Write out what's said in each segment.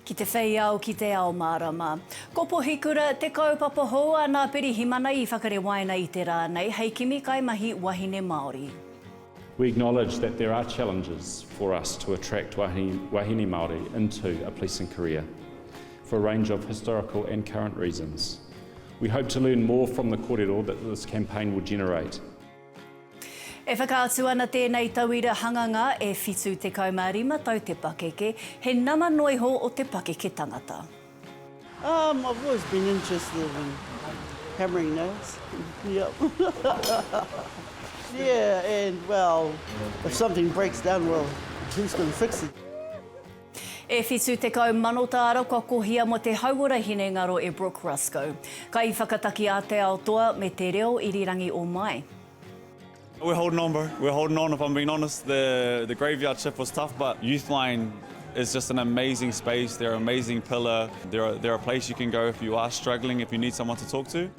Ki te whei ao, ki te ao mārama. Ko Pohikura, te kaupapa hou a Nā Pirihimana i whakarewaina i te rā nei hei kimi kaimahi wahine Māori. We acknowledge that there are challenges for us to attract wahine Māori into a policing career for a range of historical and current reasons. We hope to learn more from the korero that this campaign will generate. E whakaatu ana tēnei tauira hanganga e 75 tau te pakeke, he nama noa iho o te pakeke tangata. Um, I've always been interested in hammering nails. Yep. yeah, and well, if something breaks down, well, who's going to fix it? E whitu tekau mano tāra kua kohia mō te hauora hinengaro e Brooke Rusco, kaiwhakataki a Te Ao Toa me Te Reo Irirangi o Mai. We're holding on bro, we're holding on if I'm being honest, the the graveyard shift was tough but Youthline is just an amazing space, they're an amazing pillar, they're they're a place you can go if you are struggling, if you need someone to talk to.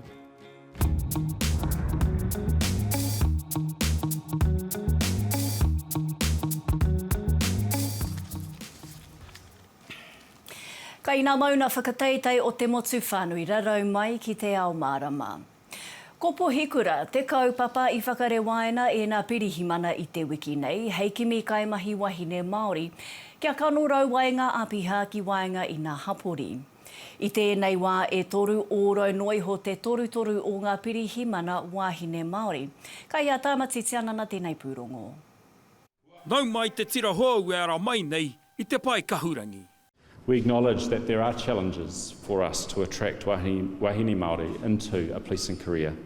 Kai nā mauna whakateitei o te motu whānui rarau mai ki te ao mārama. Ko Pohikura te kaupapa i whakarewaina e nā Pirihimana i te wiki nei hei kimi kaimahi wahine Māori kia kanorau ai ngā apiha ki waenga i nā hapori. I tēnei wā e toru ōrau noa iho te torutoru o ngā pirihimana wāhine Māori. Ka hia Tāmati Tianana tēnei pūrongo. Nau mai te tira hou e ara mai nei i te pae kahurangi. We acknowledge that there are challenges for us to attract wahine Māori into a policing career,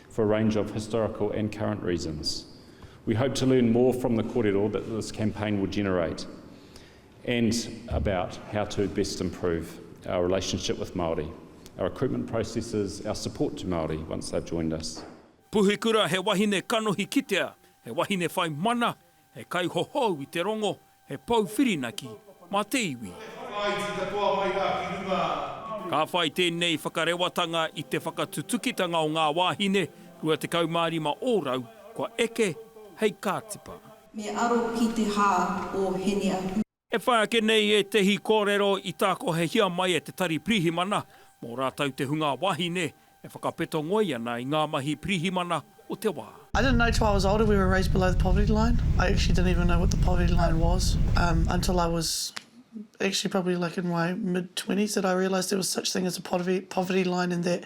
for a range of historical and current reasons. We hope to learn more from the korero that this campaign will generate. and about how to best improve our relationship with Māori, our recruitment processes, our support to Māori once they've joined us. Puhikura he wahine kanohi kitea, he wahine whai mana, he kaihohou i te rongo, he pou whirinaki mā te iwi. Ka whai tēnei whakarewatanga i te whakatutukitanga o ngā wāhine 25 ōrau kua eke hei kātipa. Me aro ki te hā o Henia. E whai ake nei ētehi kōrero i tākohehia mai e te Tari Pirihimana mō rātou te hunga wāhine e whakapeto ngoi ana i ngā mahi pirihimana o te wā. I didn't know till I was older we were raised below the poverty line. I actually didn't even know what the poverty line was um until I was actually probably like in my mid twenties that I realised there was such thing as a poverty poverty line and that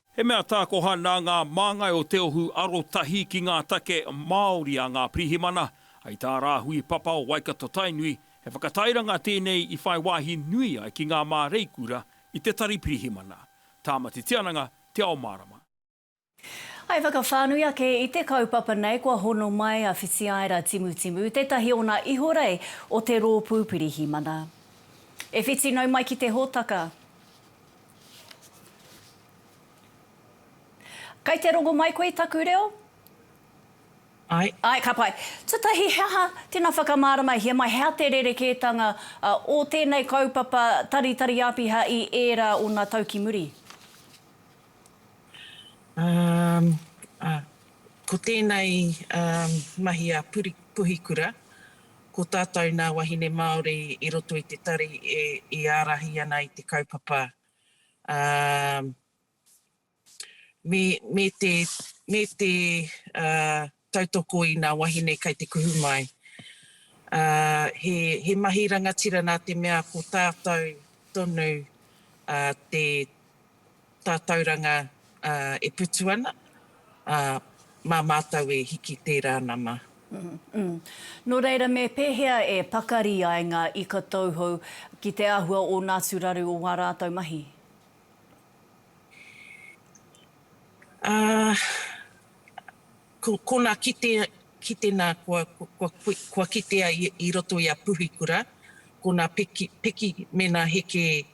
He mea tākoha nā ngā māngai o Te Ohu arotahi ki ngā take Māori a ngā pirihimana, hei tā Rāhui Papa o Waikato-Tainui, he whakatairanga tēnei i whai wāhi nui ai ki ngā māreikura i te tari pirihimana. Tāmati Tiananga, Te Ao Mārama. I whakawhānui ake i te kaupapa nei kua hono mai a Whitiaira Timutimu, tētahi o nā ihorei o te Rōpū Pirihimana. E whiti nau mai ki te hōtaka. Kai te rongo mai koe i taku reo? Ai. Ai, ka pai. Tutahi, he aha, tena whakamāramahia mai, he aha te rerekētanga o tēnei kaupapa taritari āpiha i ērā ōna tau ki muri? Um, uh, ko tēnei um, mahi a Puri, Puhikura, Ko tātou nā wahine Māori i roto i te tari i ārahi ana i te kaupapa, ā, me, me te, me te, ā, tautoko i nā wahine kei te kuhu mai. Ā, he, he mahi rangatira nā te mea ko tātou tonu, ā, te. Tātauranga e putu ana, ā, mā mātou e hiki tērā nama. Nō reira, me pēhea e pakari ai ngā ika tauhou ki te āhua o nā atu raru o wā rātou mahi? Ā, Ko kona kitea, kitena kua, kua, kua kitea i, i roto i a Puhikura, ko na peki, peki me na heke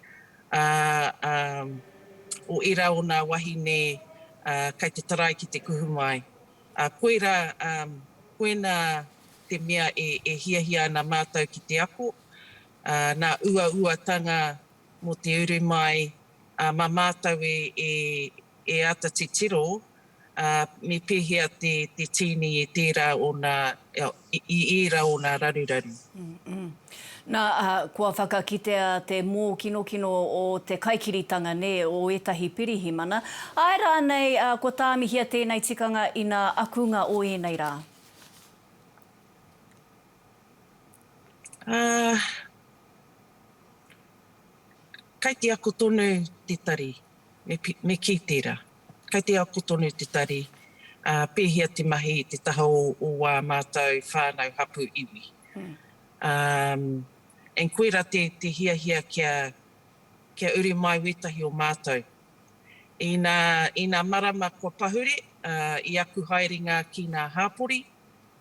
a, a, o era o na wahine a, kai te tarai ki te kuhu mai. A koira, a, koena te mea e, e hiahia ana matou ki te ako, a, na uauatanga mo te uru mai, a ma matou e, e, e ata titiro ā, me pēhea te, te tīni i tērā ōna, i ērā ōna raruraru. Nā, ā, kua whakakitea te mōkinokino o te kaikiritanga, nē, o ētahi pirihimana. Āe rānei, ā, kua tāmihia tēnei tikanga inā akunga o ēnei rā? Ā, kai te ako tonu te tari, me, me kī tērā. Kai te ako tonu te tari, ā, pēhea te mahi i te taha o ā mātou whānau hapū iwi. Um, and koirā te, te hiahia kia, kia uru mai wētahi o mātou. Inā, inā marama kua pahure, ā, i aku haerenga ki nā hāpori,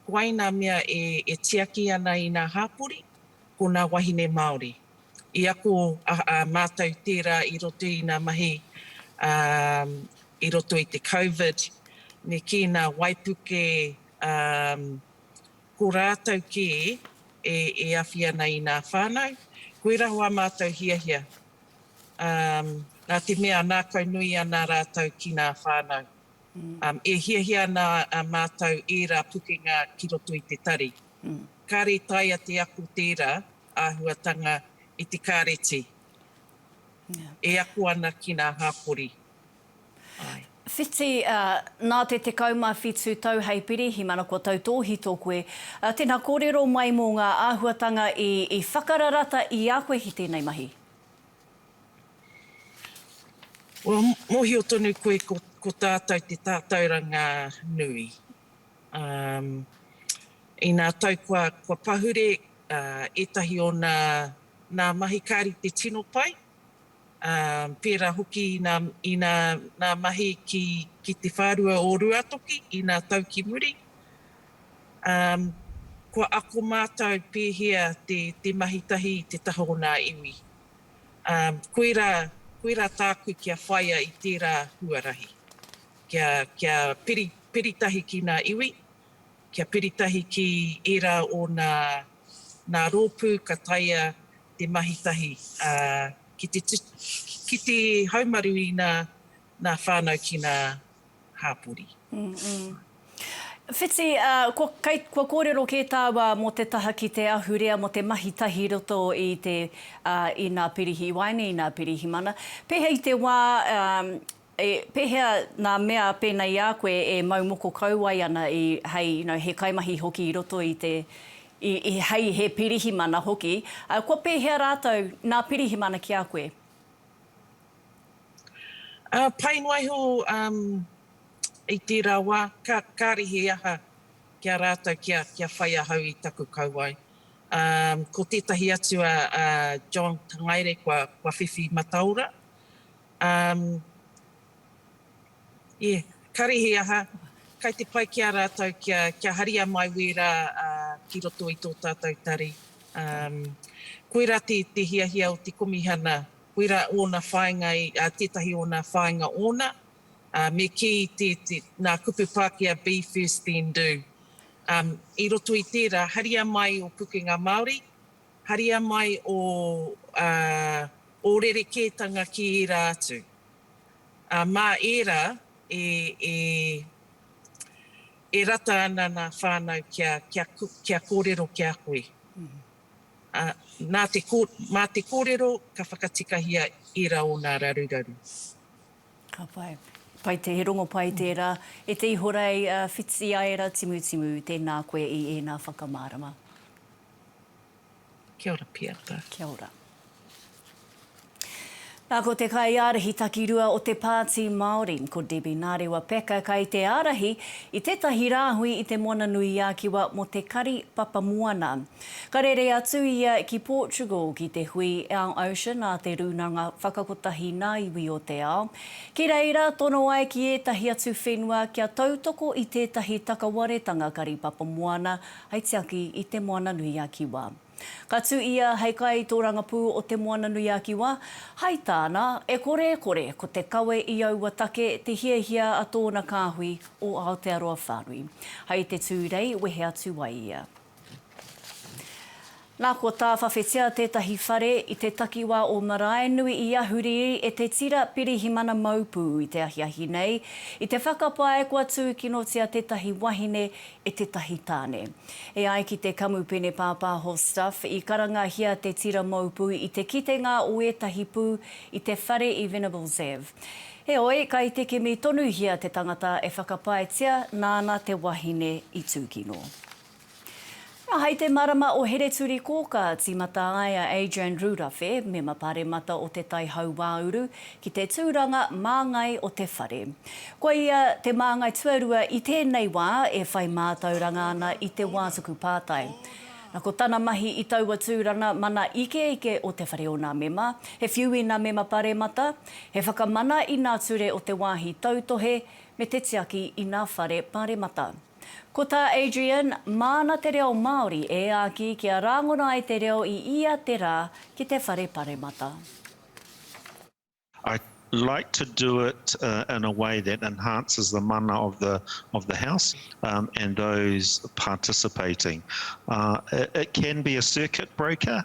koai nā mea e, e tiaki ana i nā hāpori, ko nā wahine Māori. I ako a mātou tērā i roto i nā mahi i roto i te Covid, me kī nā waipuke ko rātou kē e awhi ana i nā whānau. Koirā wā mātou hiahia, nā te mea nākau nui ana rātou ki nā whānau. E hiahia ana mātou ērā pukenga ki roto i te tari. Kāre taea te ako tērā. āhuatanga i te kāreti e ako ana ki ngā hāpori. Āe. Whiti, Nā te 17 tau hei pirihima na kua tautōhito koe. Tēnā, kōrero mai mō ngā āhuatanga i whakararata i a koe ki tēnei mahi. Well, mōhio tonu koe ko tātou te tātauranga nui. Um, ina tau kua, kua pahure uh, etahi o na, na mahi ka rite tino pai, um, pera hoki ina, ina na mahi ki, ki te wharua o Ruatoki, ina tau ki muri. Um, kua ako mātou pēhea te, te mahi tahi i te taha o nā iwi. Um, koera, koera tāku kia whaia i tērā huarahi. Kia, kia piri, piri tahi ki nā iwi, kia piri tahi ki ērā o nā, nā rōpū ka taea te mahi tahi, ā, ki te tu, ki te haumaru i nā, nā whānau ki nā hāpori. Whiti, ā, kua, kei, kua kōrero kē tāua mō te taha ki te ahurea mō te mahi tahi i roto i te, ā, i nā pirihiwaeine, i nā pirihimana. Pēhea i te wā, ā, E, pehea nga mea pena i a koe e mau moko kauae ana i, hei, you know, he kaimahi hoki i roto i te, i, i, hei he pirihimana hoki, a, kua pehea ratou na pirihimana ki a koe? A, pai noa iho, um, i tera wa, ka, kare he aha ki a ratou kia, kia whai ahau i taku kauae. Um, ko tetahi atu a, a John Tangaere kua, kua whiwhi mataora, Um, yeah, karihi aha, kai te pai ki a ratou kia, kia haria mai wera uh, ki roto i to tatou tari. Um, koira te, te hiahia o te Komihana, koira ona whainga, uh, tetahi ona whainga ona, uh, me ki te, te, na kupu Pakea be first then do. Um, i roto i tera, haria mai o pukenga Maori, Haria mai ō, ā, ō rerekētanga ki ērā atu. Ā, mā ērā e, e, e rata ana nā whānau kia, kia, kia kōrero ki a koe. Ā, nā te, mā te kōrero ka whakatikahia ērā o nā raruraru. Ka pai. Pai te, he rongo pai tērā. E te Ihorei, ā, Whitiaera Timutimu, tēnā koe i ēnā whakamārama. Kia ora Piata. Kia ora. Na ko te kaiārahi takirua o te Pāti Māori, ko Debbie Narewa Packer kai te ārahi i tētahi rāhui i te Moana-nui-a-Kiwa mō te kari papamoana. Ka rere atu ia ki Portugal ki te hui Our Ocean a te Rūnanga Whakakotahi Nā Iwi o te Ao. Ki reira tono ai ki ētahi atu whenua kia tautoko i tētahi takawaretanga kari papamoana Hei tiaki i Te Moana-nui-a-Kiwa. Ka tū ia hei kaitōrangapū o Te Moana-nui-a-Kiwa. Hai tāna, e kore e kore ko te kawe i aua take te hiahia a tōna kāhui o Aotearoa whānui. Hai te tū rei wehe atu ai ia. Nā, kua tāwhawhetia tētahi whare i te takiwā o Maraenui i Ahuriri e te tira Pirihimana Maupū i te ahiahi nei, i te whakapae kua tūkinotia tētahi wahine e tētahi tāne. E ai ki te kamupene pāpāho Stuff, i karangahia te tira Maupū i te kitenga o ētahi pū i te whare i Venables Ave. Heoi, kai te kimi tonuhia te tangata e whakapaetia nāna te wahine i tūkino. Nā, hai te marama o Hereturikōkā, tīmata ai a Adrian Rūrawhe, Mema Pāremata o Te Tai Hauāuru, ki te tūranga māngai o te whare. Ko ia te māngai tuarua i tēnei wā e whai mātauranga ana i te wā tuku pātai. Nā, ko tana mahi i taua tūranga mana ikeike o te whare o nā mema, he whiu i nā mema paremata, he whakamana i nā ture o te wāhi tautohe, me te tiaki i nā whare paremata. Ko tā Adrian, māna te reo Māori e āki kia rāngona ai te reo i ia te rā ki te whare paremata. I like to do it in a way that enhances the mana of the of the House and those participating. It can be a circuit breaker.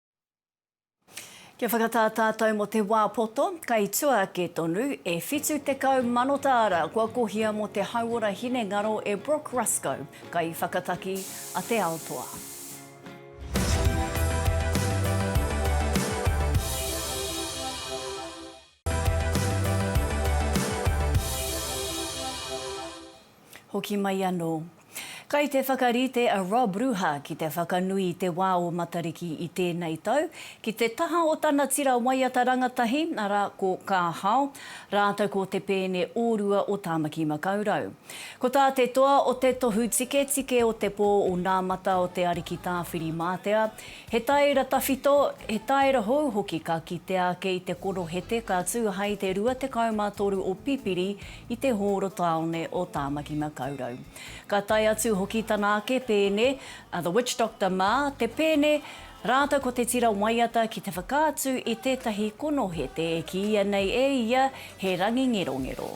Kia whakatā tātou mō te wā poto, kei tua ake tonu, e 70 mano tāra kua kohia mō te hauora hinengaro e Brooke Ruscoe, kaiwhakataki a Te Ao Toa. Hoki mai anō. Kai te whakarite a Rob Ruha ki te whakanui i te wā o Matariki i tēnei tau, ki te taha o tana tira waiata rangatahi, arā, ko Ka Hao, rātou ko Te Pēne Ōrua o Tāmaki Makaurau. Ko tā te toa o te tohu tiketike o te pō o Nā Mata o Te Ariki Tāwhiri-mātea, He taera tawhito, he taera hou hoki ka kitea ake i te korohete ka tū hai te 23 o Pipiri i te hōro tāone o Tāmaki-makau-rau. Ka tae atu hoki tana ake pēne, a The Witch Doctor mā, te pēne, rātou ko te tira waiata ki te whakaatu i tētahi konohete e kīia nei e ia he rangingerongero.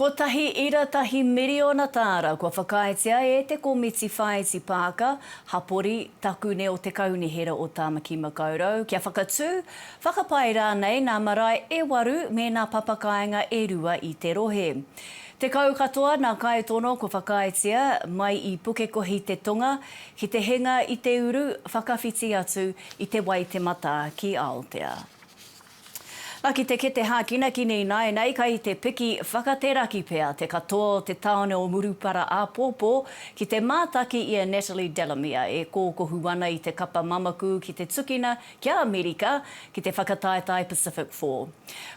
Kotahi ira tahi miriona tāra kua whakaaetia e te komiti whāiti pāka, hapori, takune o te Kaunihera o Tāmaki Makaurau kia whakatū, whakapae rānei nā marae e waru me nā papakāinga e rua i te rohe. Tekau katoa nā Kaitono kua whakaaetia, mai i Pukekohi te tonga, ki te hinga i te uru, whakawhiti atu i Te Waitematā ki Aotea. Na ki te kete hākinaki nei naenei kai te piki whakateraki pea te katoa o te taone o Murupara āpōpō ki te mātaki i a Natalie Delamere e kōkohu ana i te kapa mamaku ki te tukina ki a Amerika ki te whakataetae Pacific Four.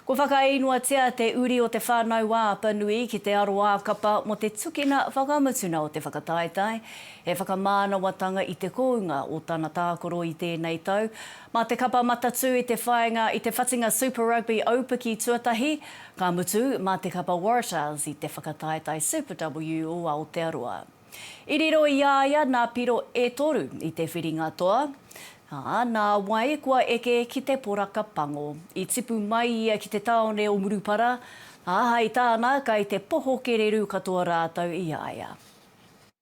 Kua whakaīngoatia te uri o Te Whānau a Apanui ki te aro ā-kapa mō te tukina whakamutunga o te whakataetae he whakamānawatanga i te kounga o tana tākaro i tēnei tau Mā te kapa matatū i te whāinga i te whatinga Super Rugby aupiki tuatahi, ka mutu, mā te kapa Waratahs i te whakataetae Super W o Aotearoa. I riro i a ia nā piro e toru i te whiringa toa, ā, nā wai kua eke ki te poraka pango. I tipu mai ia ki te tāone o Murupara, ā, hai tāna kai te poho kererū katoa rātou i a ia.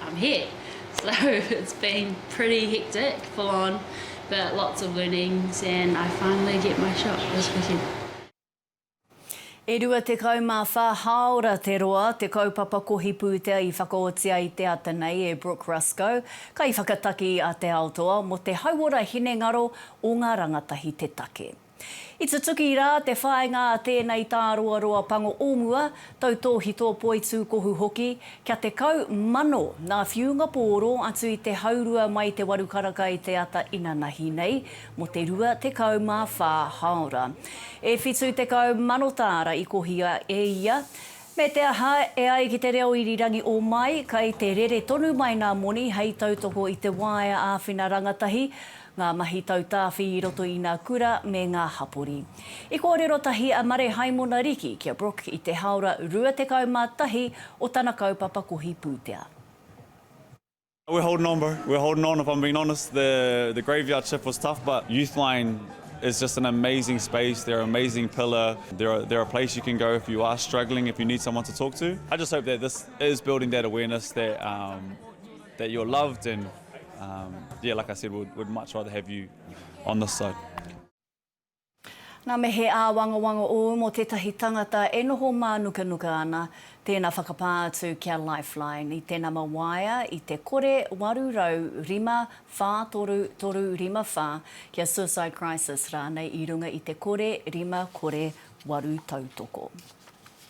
I'm here. So it's been pretty hectic, full on, but lots of learnings and I finally get my shot this weekend. E 24 hāora te roa te kaupapa kohi pūtea i whakaoti ai te ata nei e Brooke Rusco, kaiwhakataki a Te Ao Toa mō te hauora hinengaro o ngā rangatahi te take. I tutuki rā te whāinga a tēnei tāroaroa pango o mua, tautōhito poitūkohu hoki, kia 10,000 ngā whiunga pōro atu i te haurua mai te waru karaka i te ata inanahi nei mō te 24 hāora. E 70,000 tāra i kohia e ia, me te aha, e ai ki te reo irirangi o Mai, kei te rere tonu mai ngā moni hei tautoko i te waea āwhina rangatahi, ngā mahi tautāwhi i roto i nā kura me ngā hapori. I kōrero tahi a Mare Haimona Riki kia Brooke i te Haora 21 o tana kaupapa kohi pūtea. We're holding on bro, we're holding on if I'm being honest, the the graveyard shift was tough but Youthline is just an amazing space, they're an amazing pillar, they're a, they're a place you can go if you are struggling, if you need someone to talk to. I just hope that this is building that awareness that um, that you're loved and um, yeah, like I said, we'd, we'd much rather have you on this side. Nā me he āwangawanga ōu mō tētahi tangata e noho mānukanuka ana, tēnā whakapā atu ki a Lifeline i te nama waea i te kore 805 4354 ki a Suicide Crisis rānei i runga i te kore 5 kore 8 tautoko.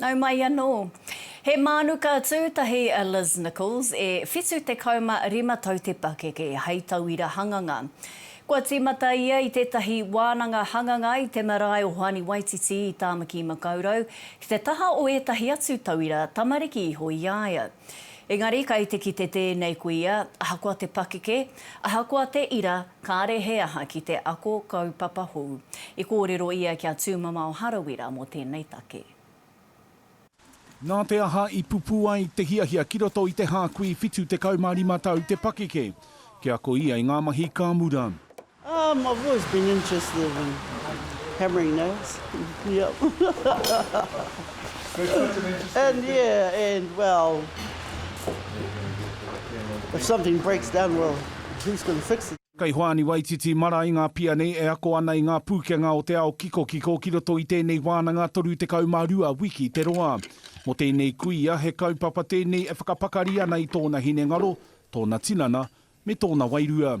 Nau mai anō. He mānuka tūtahi a Liz Nichols, e 75 tau te pakeke, hei tauira hanganga. Kua tīmata ia i tētahi wānanga hanganga i te marae o Hoani Waititi i Tāmaki-makau-rau, ki te taha o ētahi atu tauira tamariki iho i a ia. Engari kai te kite tēnei kuia, ahakoa te pakeke, ahakoa te ira, kāre he aha ki te ako kaupapa hou. I kōrero ia ki a Tūmamao Harawira mō tēnei take. Nā te aha i pupū ai te hiahia ki roto i te hākui 75 tau te pakeke? Kia ako ia i ngā mahi ka mura. Um I've always been interested in hammering nails yep There's such an interesting and thing. yeah and well if something breaks down well who's going to fix it? Kei Hoani Waititi mara i ngā pia nei e ako ana i ngā pūkenga o te ao kikokiko ki roto i tēnei wānanga 32 wiki te roa. Mō tēnei kuia, he kaupapa tēnei e whakapakari ana i tōna hinengaro, tōna tinana, me tōna wairua.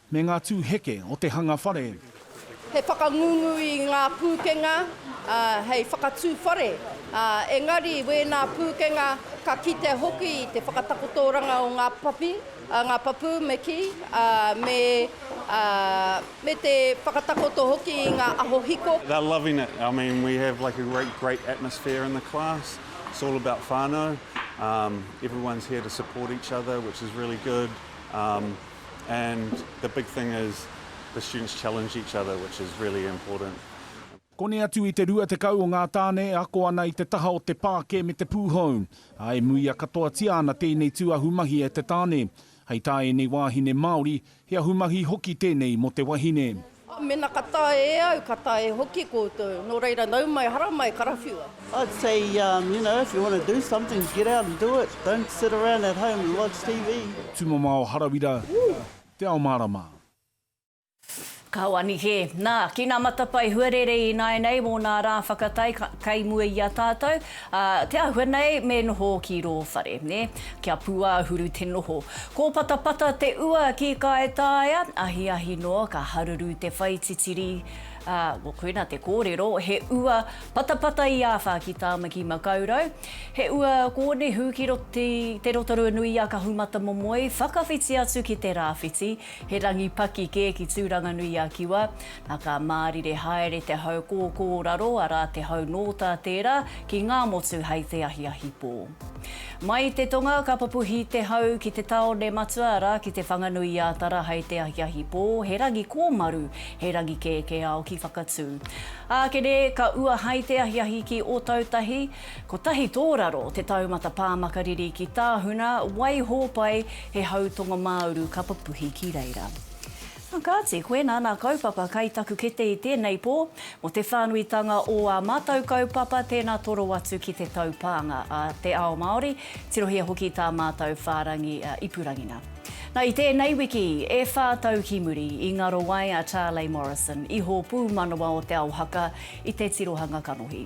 Me ngā tū heke o te hanga whare. He whakangungu i ngā pūkenga hei whakatū whare, engari wēnā pūkenga ka kite hoki i te whakatakotoranga o ngā papi, ngā papū me kī, me te whakatakoto hoki i ngā aho hiko. They're loving it, I mean we have like a great great atmosphere in the class, it's all about whānau, everyone's here to support each other which is really good. and the big thing is the students challenge each other which is really important. Koni atu i te rua tekau o ngā tāne e ako ana i te taha o te pāke me te pūhou, ā, e muia katoatia ana tēnei tū ahumahi e te tāne. Hei tā ēnei wāhine Māori, he ahumahi hoki tēnei mō te wahine. Oh, mena ka tae e au, ka tae hoki koutou, no reira nau mai, hara mai, karawhiua. I'd say um, you know, if you want to do something, get out and do it, don't sit around at home and watch TV. Tumamao Harawira, Te Ao Marama. Ka wani kē. Nā, ki nā matapae huarere ināianei mō nā rā whakatai ka, kei mua i a tātou, Ā, te āhua nei me noho ki rō whare, nē, kia pūāhuru te noho. Kōpatapata te ua ki Kaetaia, ahiahi noa ka haruru te whai titiri, ā, koina te kōrero, he ua patapata i āwha ki Tāmaki Makaurau. He ua kōnehu ki Roto, te Rotorua-nui-a-Kahumatamomoe, whakawhiti atu ki te rāwhiti. He rangi paki kē ki Tūranganui-a-Kiwa. Nā, ka mārire haere te hau kōkōraro, arā, te hau nōtā tērā, ki Ngāmotu hei te ahiahi pō. Mai i te tonga, ka pupuhi te hau ki te tāone matua, arā, ki Te Whanganui-ā-Tara hei te ahiahi pō, he rangi kōmaru, he rangi kēkēao ki Whakatū. Ākene, ka ua hai te ahiahi ki Ōtautahi. Kotahi tōraro te taumata pā makariri ki Tāhuna, Waihōpai, he hau tongomāuru ka papuhi ki reira. Nā, kāti, koinā nā kaupapa kai taku kete i tēnei pō, mō te whānuitanga ō ā mātau kaupapa, tēnā toro atu ki te taupānga a te ao Māori, tirohia hoki tā mātau whārangi ipurangina. Nā, i tēnei wiki e whā tau ki muri i ngaro ai a Charley Morrison, Ihō Pūmanawa o Te Ao Haka, i te tirohanga kanohi.